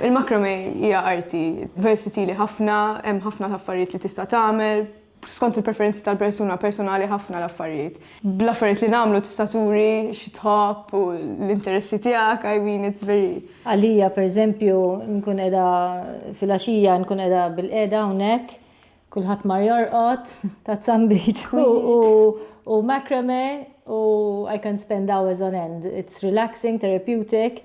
Il-macrame hija arti versatili ħafna, hemm ħafna affarijiet li tista' tagħmel. skont il-preferenzi tal-persuna, personali ħafna l-affarijiet. Bl-affarijiet li nagħmlu tista' turi xi tħobb u l-interessi tiegħek, I mean it's very. Għalija pereżempju nkun qiegħda fil-għaxija nkun qiegħda bil-qiegħda hawnhekk, kulħadd mar jorqod, ta' zambiċ u macrame u I can spend hours on end. It's relaxing, therapeutic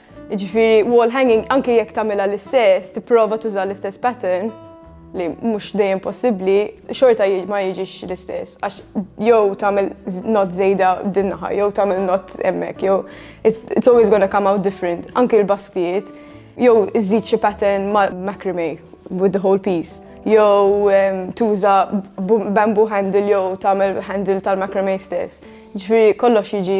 Jiġifieri wall hanging anke jekk tagħmilha l-istess, tipprova tuża l-istess pattern li mhux dejjem possibbli, xorta ma jiġix l-istess. Għax jew tagħmel not żejda din naħa, jew tagħmel not hemmhekk, jew it's always gonna come out different. Anke l-bastijiet, jew iżid xi pattern ma' macrame with the whole piece, jew ehm, tuża bamboo handle jew tagħmel handle tal-macrame stess. Ġifieri kollox jiġi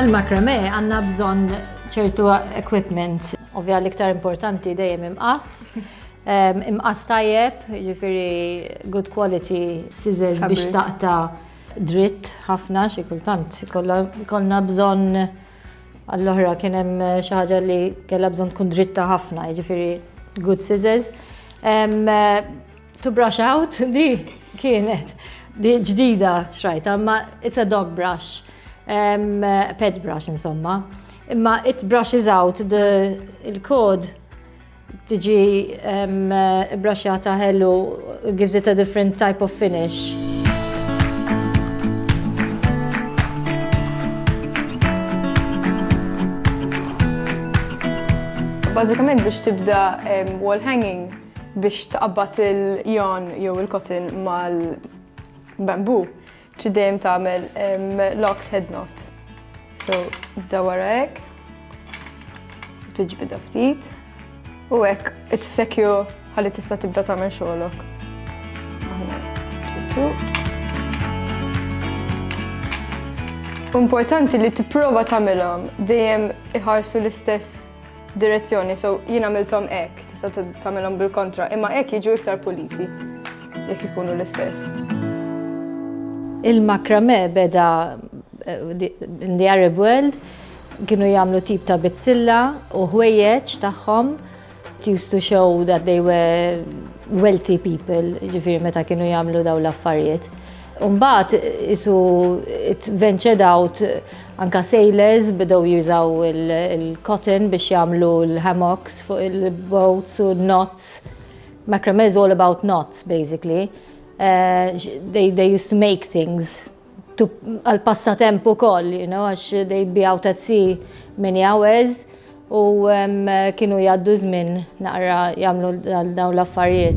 Għal-makrame għanna bżon ċertu equipment, ovvja l-iktar importanti dejjem imqas. Imqas tajjeb, ġifiri good quality scissors biex taqta dritt ħafna xi kultant. Kollna bżon Għall-oħra kien hemm xi ħaġa li kellha bżonn tkun dritta ħafna, jiġifieri good scissors. To brush out, di kienet di ġdida xrajta, ma it's a dog brush, pet brush insomma. Imma it brushes out il-kod Tiġi braxxata ħellu gives it a different type of finish. Bażikament biex tibda wall hanging biex tqabbat il-jon jew il-cotton mal-bambu, Trid dejjem tagħmel locks head knot. So, da wara hekk. U tiġbidha ftit. U hekk it-sekju ħalli tista' tibda tagħmel xogħolok. Importanti li tipprova tagħmilhom dejjem iħarsu l-istess Direzzjoni, so jien għamilthom hekk, tista' tagħmilhom bil-kontra, imma hekk jiġu iktar puliti jekk ikunu l-istess. Il-makrame beda eh, in the Arab world kienu jagħmlu tip ta' bizzilla u ħwejjeġ tagħhom used to show that they were wealthy people, ġifiri meta kienu jagħmlu daw l-affarijiet. Mbagħad isu ventured out anka sailors bidew jużaw il-cotton biex jagħmlu l-hammocks fuq il-boats u knots. Macrame is all about knots basically. Uh, they, they used to make things għal passatemp ukoll, you know, għax they be out at sea many hours u um, kienu jgħaddu żmien naqra jagħmlu dawn l-affarijiet.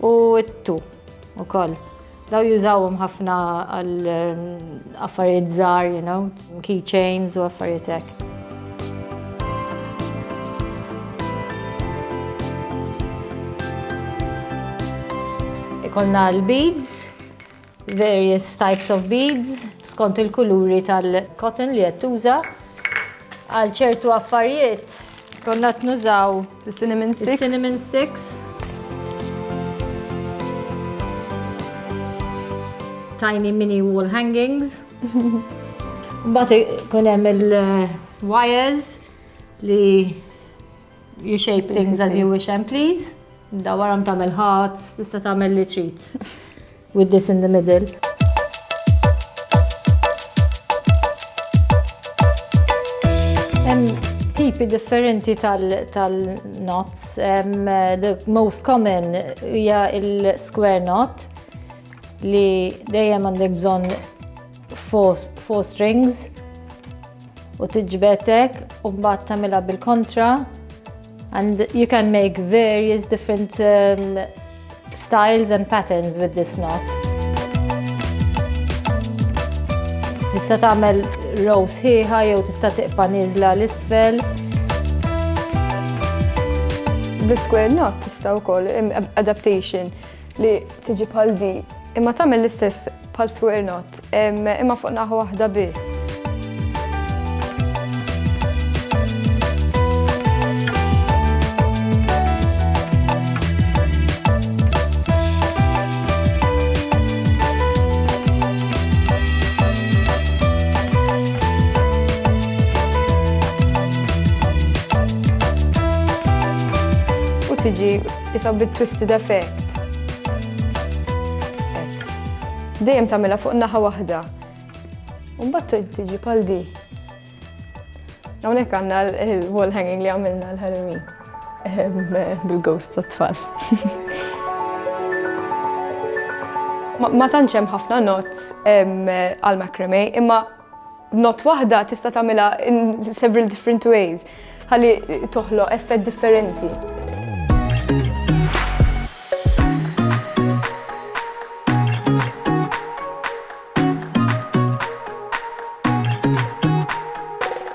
U t-tu ukoll. Daw jużawhom ħafna għal ehm, affarijiet żgħar, you know, keychains u affarijiet hekk. Ikonna l-beads, Various types of beads skont il-kuluri tal-cotton li qed tuża. Għal ċertu affarijiet konna qed nużaw cinnamon sticks. Cinnamon sticks. Tiny mini wall hangings. Mbagħad ikun hemm il-wires li You shape things as you wish and please. Da waram tagħmel ħadd, tista' tagħmel li trid. With this in the middle. tipi differenti tal-knots. the most common hija il-square knot li dejjem għandek bżonn four strings u tiġbetek u mbagħad tagħmilha bil-kontra and you can make various different um, styles and patterns with this knot. Tista' tagħmel row sħiħa jew tista' tiqpa' nieżla l isfel. Bi square knot tista' wkoll adaptation li tiġi bħal di imma tagħmel l-istess bħal square knot imma fuq naħa waħda biss. tiġi Isa bit-twisted effect. Dejjem tagħmilha fuq naħa waħda. U mbagħad tiġi bħal di. Hawnhekk għandna l-wall hanging li għamilna l-Halloween ehm, bil-ghost tat-tfal. Ma tantx hemm ħafna notes ehm, għal macrame, imma Not waħda tista' tagħmilha in several different ways ħalli toħloq effett differenti.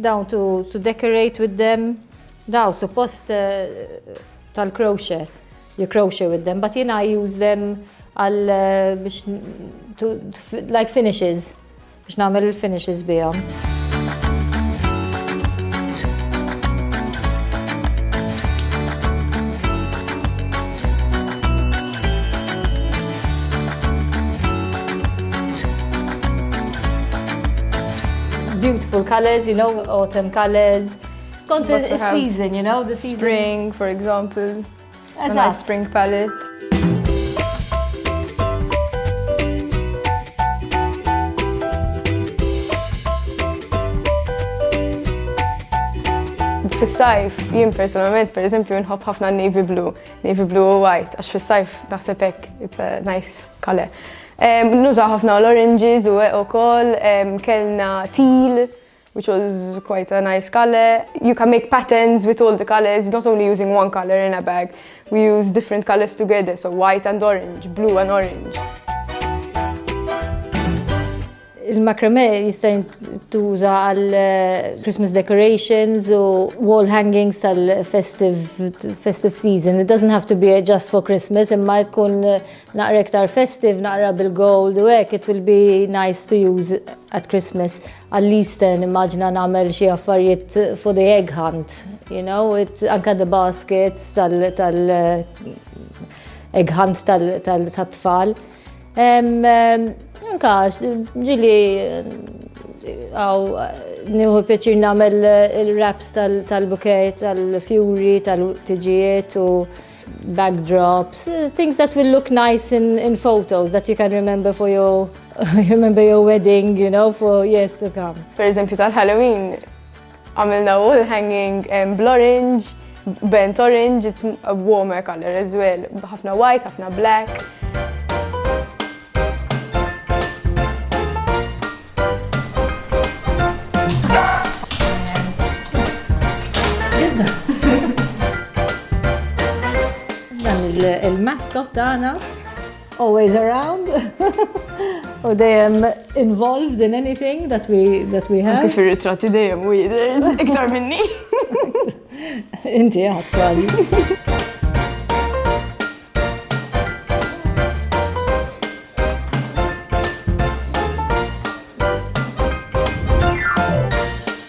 Dawn to to decorate with them, daw suppost tal-crochet, you crochet with them, but you know I use them għal biex like finishes, biex nagħmel il-finishes bihom. beautiful colors, you know, autumn colors. Kont season, you know, the season. Spring, for example. As a spring palette. Fis-sajf, jien personalment, per eżempju, nħobb ħafna navy blue. Navy blue u white, għax fis-sajf naħseb hekk it's a nice color. Nuża ħafna l-oranges u u kol, kellna teal, which was quite a nice color. You can make patterns with all the colors, not only using one color in a bag. We use different colors together, so white and orange, blue and orange. Il-macrame jista' jintuża għal eh, Christmas decorations u wall hangings tal-festive season. It doesn't have to be just for Christmas, imma tkun eh, naqra iktar festive, naqra bil-gold u hekk, it will be nice to use at Christmas. At least eh, immaġina nagħmel xi affarijiet for the egg hunt, you know, it anka the baskets tal-egg hunt tal-tfal. Anka, ġili għaw nieħu pjaċir nagħmel il-raps tal-bukej, tal-fjuri, tal-tiġijiet u backdrops, things that will look nice in, in photos that you can remember for your remember your wedding, you know, for years to come. Per eżempju tal-Halloween, Għamilna wall hanging bl-orange, bent orange, it's a warmer color as well, ħafna white, ħafna black. Dan il-mascot tagħna Always around u dejjem involved in anything that we that we have. Kif ir-ritratti dejjem u jidher iktar minni. Inti għad kważi.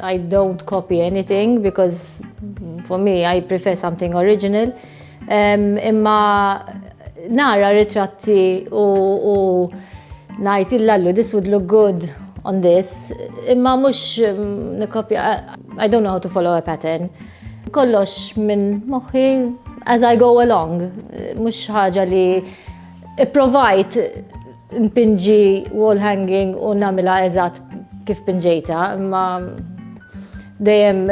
I don't copy anything because for me I prefer something original. Um, imma nara ritratti u, u najt il-lallu, this would look good on this. Imma mux mm, nikopja, I don't know how to follow a pattern. Kollox minn moħi as I go along. Mux ħaġa li provajt Npinġi wall hanging u namila eżatt kif pinġejta, imma dejjem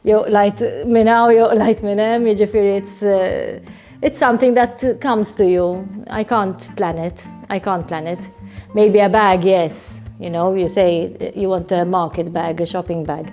jew lajt minn hawn jew lajt minn hemm, jiġifieri it's uh, it's something that comes to you. I can't plan it. I can't plan it. Maybe a bag, yes. You know, you say you want a market bag, a shopping bag.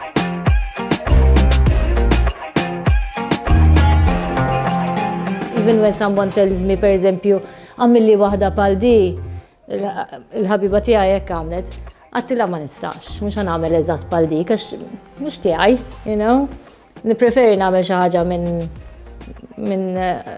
Even when someone tells me, per eżempju, għamilli waħda pal di, il-ħabiba tija jek għamlet, għattila ma nistax, mux għamil eżat pal di, kax mux tijaj, you know? Nipreferi namel xaħġa minn minn eh,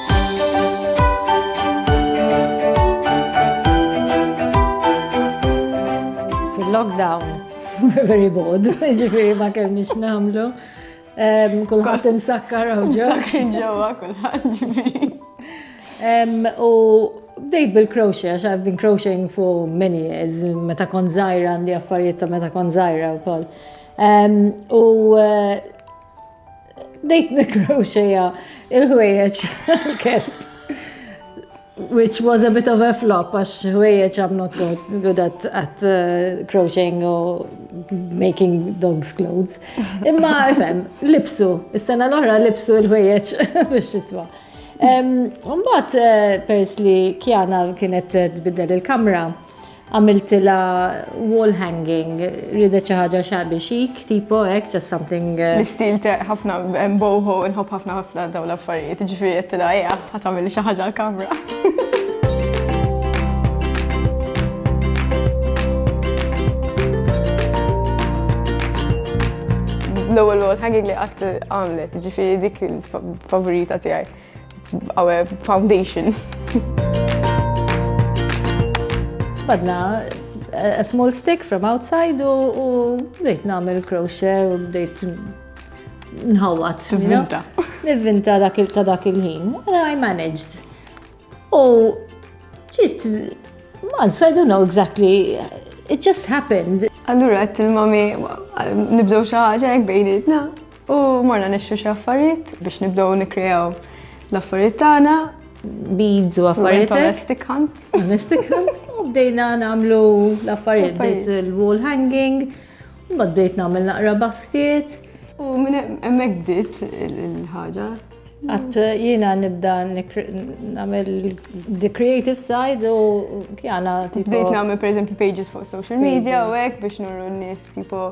Fil-lockdown, very bold, ġifiri ma kellniex namlu. Kulħadd imsakkar u ġew. Imsakkar ġewwa kulħadd ġifieri. U bdejt bil-crochet, għax I've been crocheting for many years, meta kon zaħira għandi affarijiet ta' meta kon zaħira u koll. U eh, Dejt nikroxeja il-ħwejjeġ kelb. Which was a bit of a flop, għax ħwejjeġ I'm not good, good at, at uh, crocheting or making dogs clothes. Imma, fem, lipsu, is-sena l-oħra lipsu il-ħwejjeġ biex xitwa. Umbat, eh, pers li kjana kienet tbiddel il-kamra, għamiltilha wall hanging, ridet xi ħaġa xabi xik, tipo hekk, just something. Uh, L-istil ħafna boho nħobb ħafna ħafna dawn l-affarijiet, ġifieri qed tilha ejja ħadd tagħmel xi ħaġa l-kamra. L-ewwel wall hanging li qatt għamlet, ġifieri dik il-favorita tiegħi. It's our foundation. Badna a small stick from outside u bdejt namel crochet u bdejt nħawat. Nivvinta. Nivvinta dak il ta' dak il-ħin. I managed. U ġit, man, so I don't know exactly. It just happened. Allura għat il-mami, nibdew xaħġa jek bejnietna. U morna nixxu xi affarijiet biex nibdew nikkrejaw l-affarijiet tagħna beads u affarijiet. Domestic hunt. Domestic hunt. U bdejna namlu l-affarijiet, bdejt il-wall hanging, u bdejt namel naqra basket. U minn emmek bdiet il-ħagġa. Għat jina nibda namel the creative side u kjana. Bdejt namel per eżempju pages fuq social media u għek biex nurru n-nis tipo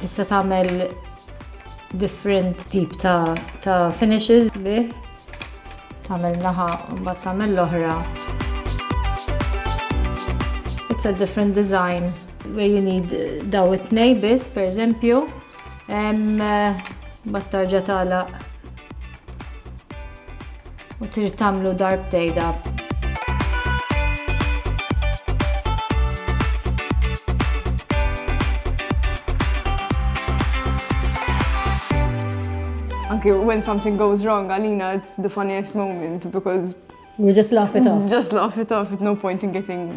Tista' tagħmel different tip ta', ta finishes bih. Tagħmel naħa u mbagħad tagħmel l-oħra. It's a different design where you need daw it-tnej biss, per eżempju, bat tarġa tagħlaq U trid tagħmlu darb tgħidha. Anki when something goes wrong għalina it's the funniest moment because We just laugh it off. Just laugh it off, it's no point in getting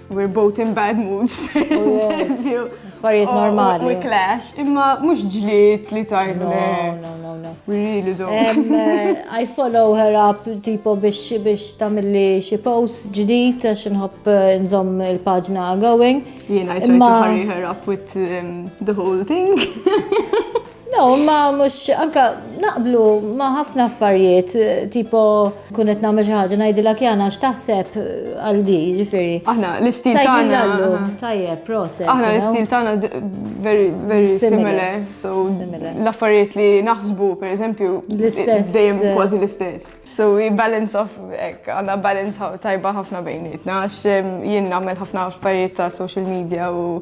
We're both in bad moods, per eżempju. Affarijiet Oh, normali. We clash, imma mhux ġlied li tajt No, le. no, no, no. We really don't. Em, eh, I follow her up tipo biex biex tamilli xi post ġdid għax inħobb eh, nżomm il-paġna going. Jiena I try to Imma- hurry her up with um, the whole thing. No, ma mux, anka naqblu ma ħafna affarijiet, tipo kunet namel xaħġa najdila kjana xtaħseb għal di, ġifiri. Aħna, l-istil tana. Tajjeb, proset. Aħna, l-istil tana very, very similar. So, l-affarijiet li naħsbu, per eżempju, dejjem eh. kważi l-istess. So, we balance of, ek, għanna balance tajba ħafna bejnietna, għax jien namel ħafna affarijiet ta' social media u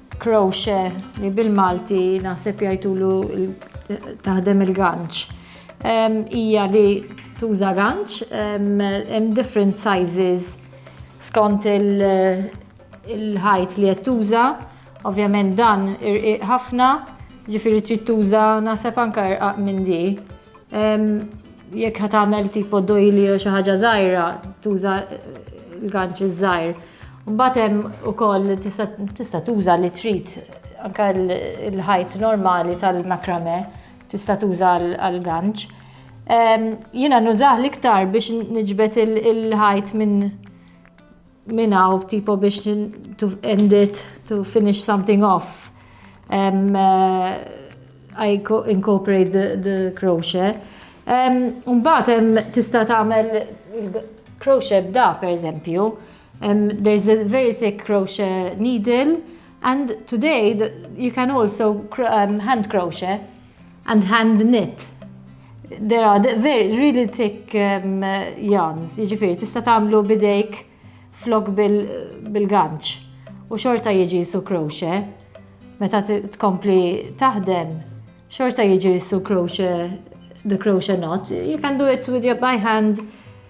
Crochet li bil-Malti naħseb jgħidulu taħdem il-ganċ. Hija li tuża ganċ, hemm different sizes skont il-ħajt li qed tuża. Ovvjament dan irqiq ħafna, ġifieri trid tuża naħseb anke irqaq minn di. Jekk ħat tagħmel tipo dojli u xi ħaġa żgħira, tuża l-ganċ iż-żgħir. Mbagħad hemm ukoll tista' tuża li trid anke l-ħajt normali tal-makrame tista' tuża għall-ganċ. Jiena nużah l-iktar biex niġbed il-ħajt minn minn hawn tipo biex to end it, to finish something off, I incorporate the the crochet. Mbagħad hemm tista' tagħmel crochet b'da pereżempju, there is a very thick crochet needle and today you can also hand crochet. And hand knit. There are the very really thick um, yarns, jiġifieri tista' tagħmlu bidejk flok bil-ganċ u xorta jiġi su kroxe meta tkompli taħdem xorta jiġi su kroxe the crochet knot. You can do it with your by hand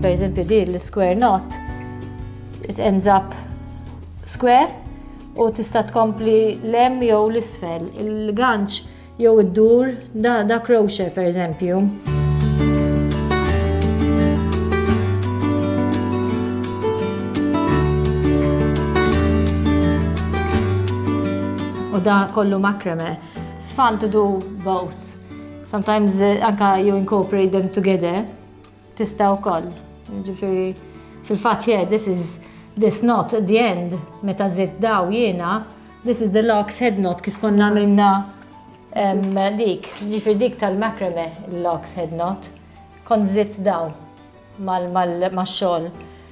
Per eżempju, di l-square knot, it ends up square u tista' tkompli lem jew l-isfel. Il-ganċ jew id-dur Da, da Croce, per eżempju. U da kollu makrame. It's fun to do both. Sometimes eh, anka you incorporate them together. Tista' wkoll, ġifieri fil-fatt yeah, this is this not the end, meta żied daw jiena, this is the locks head knot kif konna minna dik, ġifieri dik tal-makrame l-locks head knot, kont żied daw mal-xogħol.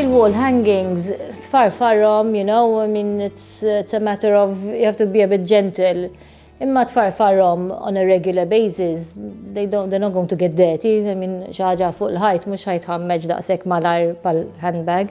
Il-wall hangings tfarfarhom, you know, I mean, it's, it's a matter of, you have to be a bit gentle. Imma tfarfarhom on a regular basis, they don't, they're not going to get dirty, I mean, xaħġa fuq l-ħajt, mux ħajt ħammeġ daqsek malar pal-handbag.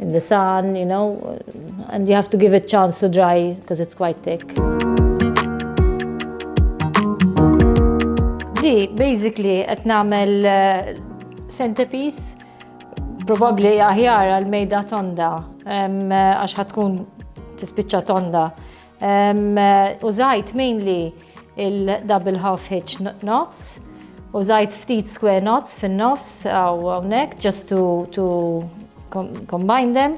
in the sun, you know, and you have to give it chance to dry because it's quite thick. Di, basically, qed nagħmel eh, centerpiece, probabbli aħjar għal mejda tonda, eh, għax ħatkun tispiċċa tonda. Użajt mainly il-double half hitch knots, użajt ftit square knots fin-nofs għaw għawnek just to, to combine them.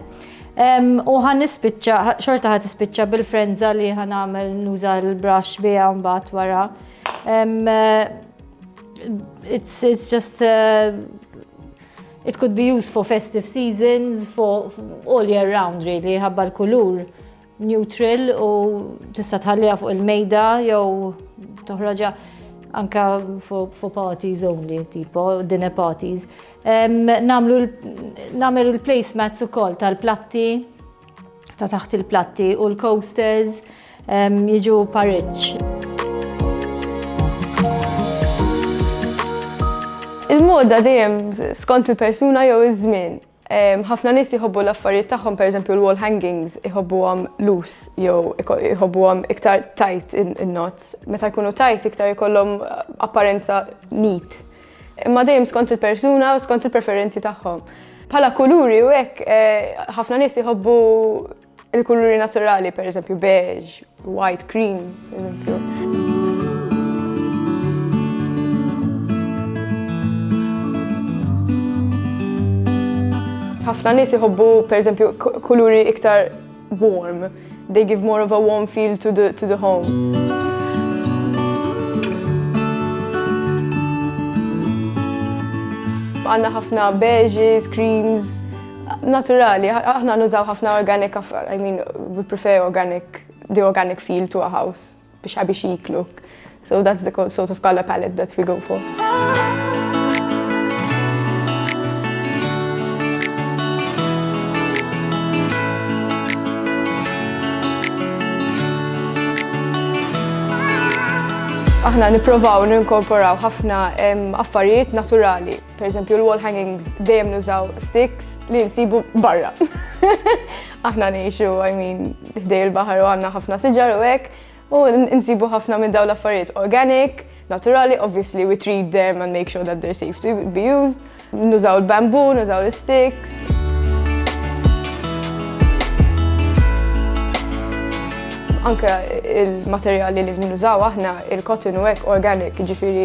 U għan nispicċa, xorta għat nispicċa bil-frenza li għan għamil nuża l-brush bija mbat wara. It's, it's just uh, it could be used for festive seasons, for all year round really, ħabba l-kulur neutral u tista' tħalliha fuq il-mejda jew toħroġha anka for parties only, tipo dinner parties. Namlu namel il-placemats ukoll tal-platti ta' taħt il-platti u l-coasters jiġu pareċ. Il-moda dejjem skont il-persuna jew iż-żmien. Ħafna nies jħobbu l-affarijiet tagħhom, pereżempju l-wall hangings, iħobbuhom loose jew iħobbuhom iktar tight in-knots. Meta jkunu tight iktar ikollhom apparenza neat. Imma dejjem skont il-persuna u skont il-preferenzi tagħhom. Bħala kuluri u hekk, ħafna nies iħobbu Il-kuluri naturali, per eżempju, beige, white, cream, per eżempju. ħafna nies jħobbu pereżempju kuluri iktar warm. They give more of a warm feel to the, to the home. Għanna ħafna beiges, creams, Naturali, aħna nużaw ħafna organic, I mean, we prefer organic, the organic feel to a house, biex ħabi xiklu. So that's the sort of color palette that we go for. Aħna niprovaw ninkorporaw ħafna affarijiet naturali. Per eżempju, l-wall hangings dejjem nużaw sticks li nsibu barra. Aħna ngħixu, I mean, ħdej il-baħar u għandna ħafna siġar u hekk, u nsibu ħafna minn dawn l-affarijiet organic, naturali, obviously we treat them and make sure that they're safe to be used. Nużaw il-bambu, nużaw l-sticks. anka il-materjali li nużaw aħna, il-cotton u hekk organic, ġifiri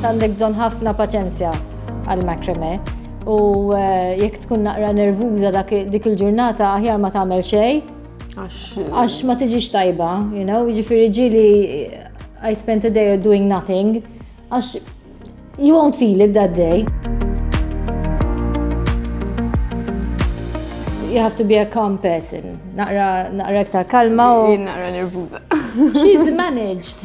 Għandek bżonn ħafna paċenzja għal macrame u eh, jekk tkun naqra nervuża dik il-ġurnata aħjar ma tagħmel xejn. Għax ma tiġix tajba, you know, ġifiri ġili I spent a day doing nothing, għax you won't feel it that day. You have to be a calm person. Naqra, naqra iktar kalma u. Naqra nervuza. She's managed.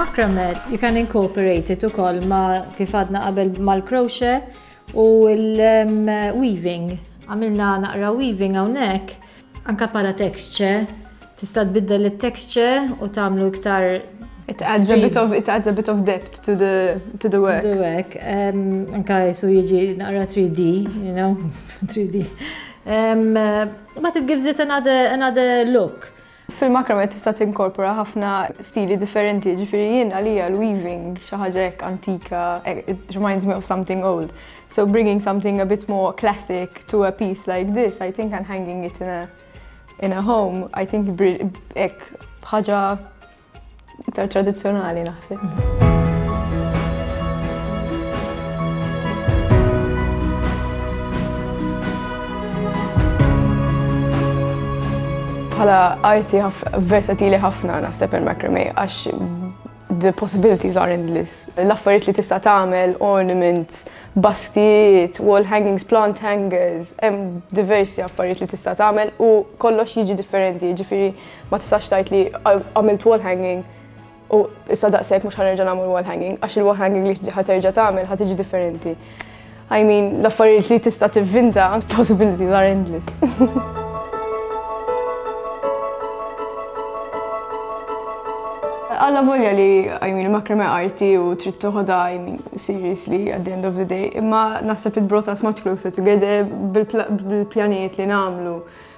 Macrame, you can incorporate it ukoll ma kif għadna qabel mal-crochet u l-weaving. Għamilna naqra weaving hawnhekk Anke bħala texture, tista' tbiddel it-texture u tagħmlu iktar It adds a bit of it adds a bit of depth to the to the work. To the work. Um, anka jisu jiġi naqra 3D, you know, 3D. Um, but it gives it another another look. Fil-makrame tista' tinkorpora ħafna stili differenti, ġifieri jien għalija l-weaving xi ħaġa hekk antika, eh, it reminds me of something old. So bringing something a bit more classic to a piece like this, I think and hanging it in a, in a home, I think ek ħaġa iktar tradizjonali naħseb. Bħala arti versatili ħafna naħseb il-macrame għax The possibilities are endless. L-affarijiet li tista' tagħmel, ornaments, baskijiet, wall hangings, plant hangers, hemm diversi affarijiet li tista' tagħmel u kollox jiġi differenti, ġifieri ma tistax tgħid li għamilt wall hanging u issa daqshekk mhux ħanerġa' nagħmel wall hanging għax il-wall hanging li ħaterġa' tagħmel ħa tiġi differenti. I mean, l-affarijiet li tista' tivvinta, possibilities are endless. Alla volja li, I mean, makrame arti u trid toħodha, I mean, seriously, at the end of the day, imma naħseb it brought us much closer together bil-pjanijiet li nagħmlu